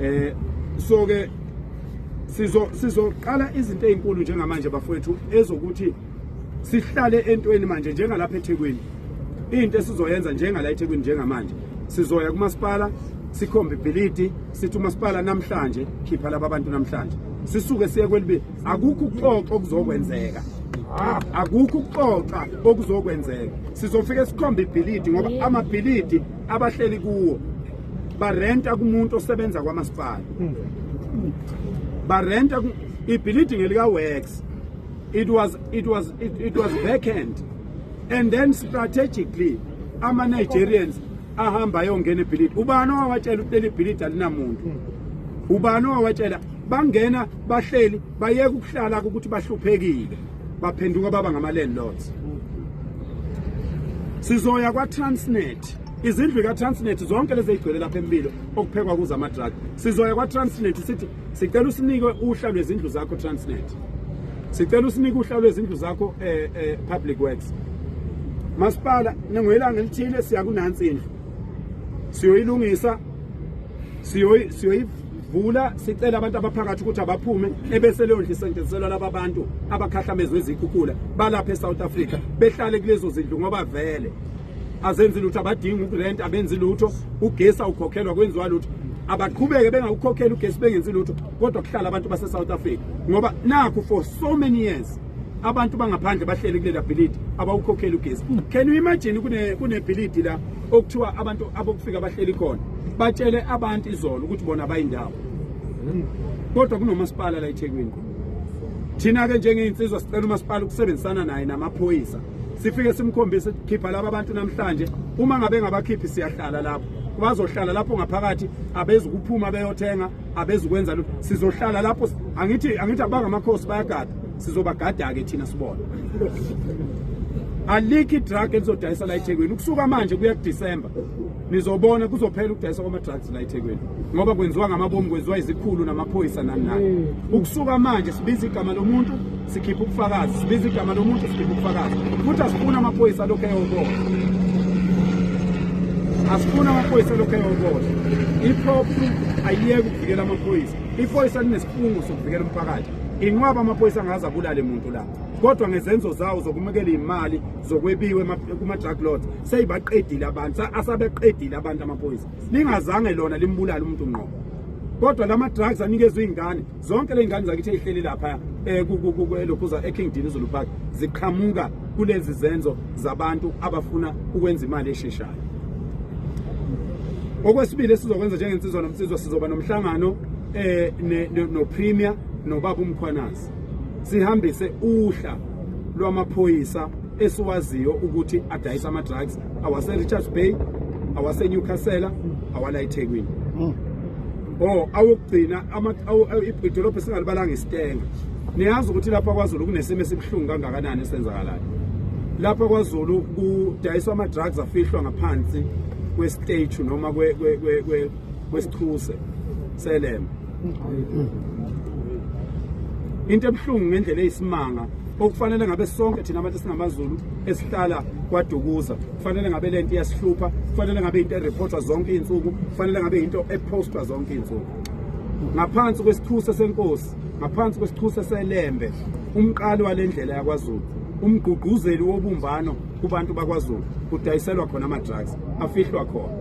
eh so ke sizo sizoqala izinto ezinkulu njengamanje bafowethu ezokuthi sihlale entweni manje njengalapha eThekwini into esizoyenza njengala eThekwini njengamanje sizoya kumasipala sikhombe ibhilidi sithi umasipala namhlanje khipha laba bantu namhlanje sisuke siye kwelibi akukho ukuxoxa okuzokwenzeka akukho ukuxoxa okuzokwenzeka sizofike sikhombe ibhilidi ngoba amabhilidi abahleli kuwo barenta kumuntu osebenza kwamasipala barenta ibhilidi ngelika works it was it was it, it was vacant and then strategically ama Nigerians ahamba ayongena ebhilidi ubani owawatshela ukuthi leli bhilidi alinamuntu ubani owawatshela bangena bahleli bayeka ukuhlala ukuthi bahluphekile baphenduka baba ngama landlords sizoya kwa Transnet izindlu ikatransnet zonke lezi eyigcwele lapha empilo okuphekwa kuzo amadrag sizoya kwatransnet sithi sicela usinike uhla lwezindlu zakho transnet sicela usinike uhla lwezindlu zakho um eh, eh, public works masipala ningoyilanga elithile siya kunansi indlu siyoyilungisa siyoyivula sicela abantu abaphakathi ukuthi abaphume ebese leyo ndlu isetshenziselwa laba bantu abakhahlamezwe izikhukhula balapha esouth africa behlale kulezo zindlu ngoba vele azenzi lutho abadingi ukurent abenzi lutho ugesi awukhokhelwa kwenziwa lutho abaqhubeke bengawukhokheli ugesi bengenzi lutho kodwa kuhlala abantu base-south africa ngoba nakho for so many years abantu bangaphandle bahleli kulela bhilidi abawukhokheli ugesi can you imagine kunebhilidi la okuthiwa abantu abokufika bahleli khona batshele abantu izolo ukuthi bona bayindawo kodwa kunomasipala la ethekwini thina-ke njengey'nsizwa sicela umasipala ukusebenzisana naye namaphoyisa sifike simkhombise khipha laba bantu namhlanje uma ngabe ngabakhiphi siyahlala lapho bazohlala lapho ngaphakathi abezi kuphuma beyothenga abezi kwenza lutho sizohlala lapho angithi angithi abangamakhosi bayagada sizobagada ke thina sibona alikhi drug elizodayisa la eThekwini ukusuka manje kuya kuDecember nizobona kuzophela ukudayisa kwama-drugs la ethekwini ngoba kwenziwa ngamabomu kwenziwa izikhulu namaphoyisa nani nani mm. ukusuka manje sibiza igama lomuntu sikhipha ubufakazi sibiza igama lomuntu sikhipha ubufakazi futhi asifuna amaphoyisa alokhu eyokola asifuna amaphoyisa alokhu eyokola iphrophu ayiyeke ukuvikela amaphoyisa iphoyisa linesifungo sokuvikela umphakathi inqwaba amaphoyisa angaze abulale muntu la kodwa ngezenzo zawo zokumukela imali zokwebiwe kuma drug lords seyibaqedile abantu asabeqedile abantu amaphoyisa lingazange lona limbulala umuntu ngqo kodwa lama drugs anikezwe izingane zonke lezingane zakithi ezihleli lapha eh, lokhuza eKing Dean Zulu Park ziqhamuka kulezi zenzo zabantu abafuna ukwenza imali esheshayo okwesibili esizokwenza njengensizwa nomsizwa sizoba nomhlangano eh no premier nobaba umkhwanazi sihambise uhla lwamaphoyisa esiwaziyo ukuthi adayisa ama-drugs awase-richards bay awasenewcastle awala ethekwini hmm. o oh, awokugcina idolobha esingalibalanga isitenga niyazi ukuthi lapha kwazulu kunesimo esibuhlungu kangakanani esenzakalayo lapha kwazulu kudayiswa ama-drugs afihlwa ngaphansi kwesiteju noma kwesichuse selema into ebuhlungu ngendlela eyisimanga okufanele ngabe sonke thina abantu singamaZulu esihlala kwadukuza kufanele ngabe lento iyasihlupha kufanele ngabe into ereportwa zonke izinsuku kufanele ngabe into epostwa zonke izinsuku ngaphansi kwesithusa senkosi ngaphansi kwesithusa selembe umqali walendlela yakwaZulu umgqugquzeli wobumbano kubantu bakwaZulu kudayiselwa khona ama drugs afihlwa khona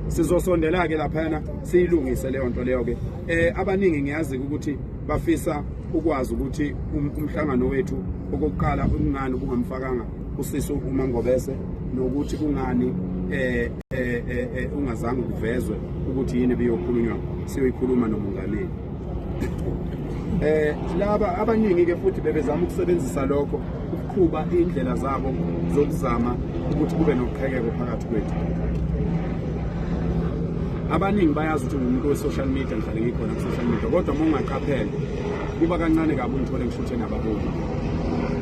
sizosondela ke laphana siyilungise leyo nto leyo-ke um abaningi ngiyazi ukuthi bafisa ukwazi ukuthi um, umhlangano wethu okokuqala kungani kungamfakanga usisi umangobese nokuthi kungani um eh, eh, eh, ungazange kuvezwe ukuthi yini ebiyokhulunywa siyoyikhuluma nomongameli um laba abaningi-ke futhi bebezama ukusebenzisa lokho qhuba indlela zabo zokuzama ukuthi kube noqhekeko phakathi kwethu abaningi bayazi ukuthi ngumuntu we-social media ngihlale ngikhona ku-social media kodwa uma ungaqaphele kuba kancane kabi ungithole ngishuthe nababoni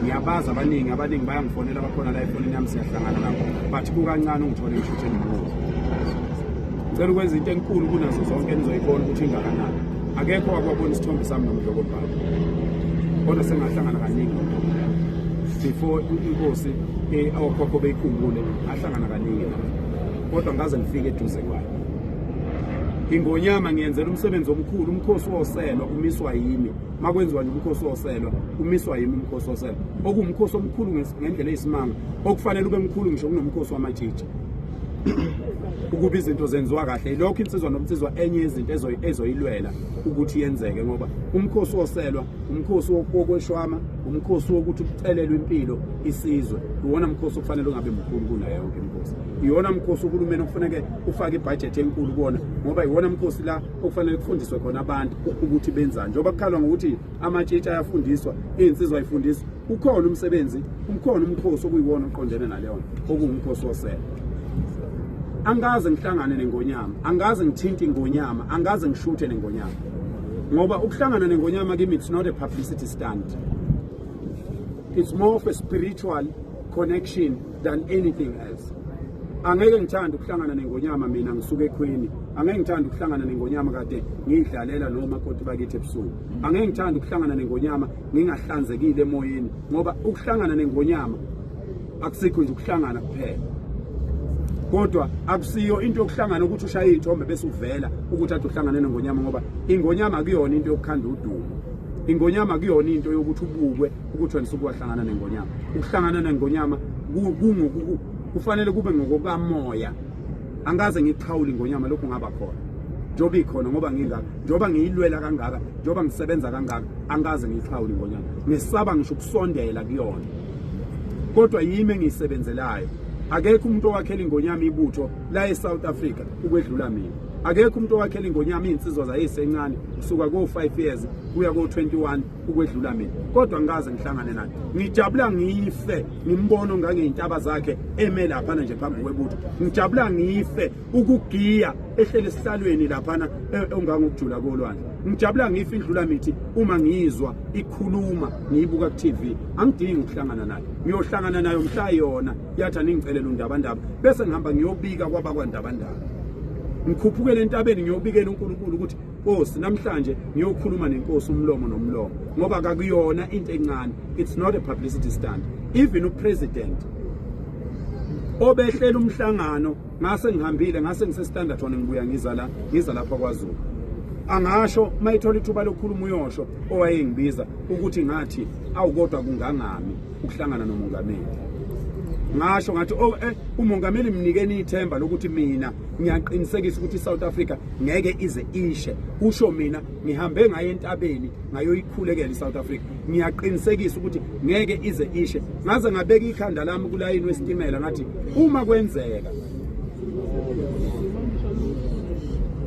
ngiyabazi abaningi abaningi bayangifonela bakhona la efonini yami siyahlangana nabo but kukancane ungithole ngishuthe nomuntu cela ukwenza into enkulu kunazo zonke enizoyibona ukuthi ingakanani akekho wakwabona isithombe sami nomdloko bhalo kodwa sengahlangana kaningi before inkosi eh, awokhokho beyikhumbule ahlangana kaningi kodwa ngaze ngifike eduze kwayo ingonyama ngiyenzela umsebenzi omkhulu umkhosi woselwa umiswa yimi makwenziwa nje umkhosi woselwa umiswa yimi umkhosi woselwa okuwumkhosi omkhulu ngendlela eyisimanga okufanele ube mkhulu ngisho kunomkhosi wamatshitshi ukuba izinto zenziwa kahle ilokho insizwa nomnsizwa enye yezinto ezoyilwela ukuthi yenzeke ngoba umkhosi woselwa umkhosi wokweshwama umkhosi wokuthi kucelelwe impilo isizwe iwona mkhosi okufanele ungabe mkhulu kunayo yonke imkhosi iwona mkhosi uhulumeni okufaneke ufake ibhajethi enkulu kuwona ngoba iwona mkhosi la okufanele kufundiswe khona abantu ukuthi benzani njengoba kukhalwa ngokuthi amatshitshi ayafundiswa iy'nsizwa ayifundiswa ukhona umsebenzi ukhona umkhosi okuyiwona oqondene naleyo nto okuwumkhosi wosele angikaze ngihlangane nengonyama angikaze ngithinte ingonyama angikaze ngishuthe nengonyama ngoba ukuhlangana nengonyama kimi it's not a publicity stunt it's more of a spiritual connection than anything else angeke ngithanda ukuhlangana nengonyama mina ngisuke ekhweni angeke ngithanda ukuhlangana nengonyama kade ngiyidlalela noma kodwa bakithi ebusuku angeke ngithanda ukuhlangana nengonyama ngingahlanzekile emoyeni ngoba ukuhlangana nengonyama akusikho nje ukuhlangana kuphela kodwa akusiyo into yokuhlangana ukuthi ushaye iy'thombe bese uvela ukuthi ade uhlangane nengonyama ngoba ingonyama kuyona into yokukhanda udumo ingonyama kuyona into yokuthi ubukwe ukuthi wena usuke wahlangana nengonyama ukuhlangana nengonyama kufanele kube ngokokamoya angaze ngixhawule ingonyama lokhu ngaba khona njengoba ikhona ngoba ngingaka njengoba ngiyilwela kangaka njengoba ngisebenza kangaka angaze ngixhawule ingonyama ngisaba ngisho ukusondela kuyona kodwa yimi engiyisebenzelayo akekho umuntu owakhela ingonyama ibutho la e-south africa ukwedlula mina akekho umuntu owakhela ingonyama iy'nsizwa zayisencane kusuka ko-five years kuya ko-twenty-one ukwedlula mina kodwa ngikaze ngihlangane naye ngijabula ngife ngimbono ngangeyintaba zakhe eme laphana nje phambi kwebutho ngijabula ngife ukugiya ehlele esihlalweni laphana e, ongangokujula kolwandle ngijabula ngife indlula mithi uma ngiyizwa ikhuluma ngiyibuka ku-tv angidingi ukuhlangana nayo ngiyohlangana nayo mhla yona yathi aningicelela undabandaba bese ngihamba ngiyobika kwabakwandabandaba ngikhuphukele entabeni ngiyobikela unkulunkulu ukuthi Nkosi namhlanje ngiyokhuluma nenkosi umlomo nomlomo ngoba kakuyona into encane it's not a publicity stunt even upresident obehlela umhlangano ngase ngihambile ngase ngise standard one ngibuya ngiza la ngiza lapha kwaZulu angasho mayithola ithuba lokukhuluma uyosho owayengibiza ukuthi ngathi awukodwa kungangami ukuhlangana nomongameli ngasho ngathi oh eh umongameli mnikeni ithemba lokuthi mina ngiyaqinisekisa ukuthi iSouth Africa ngeke ize ishe kusho mina ngihambe ngaye entabeni ngayoyikhulekela iSouth Africa ngiyaqinisekisa ukuthi ngeke ize ishe ngaze ngabeka ikhanda lami kulayini wesitimela ngathi uma kwenzeka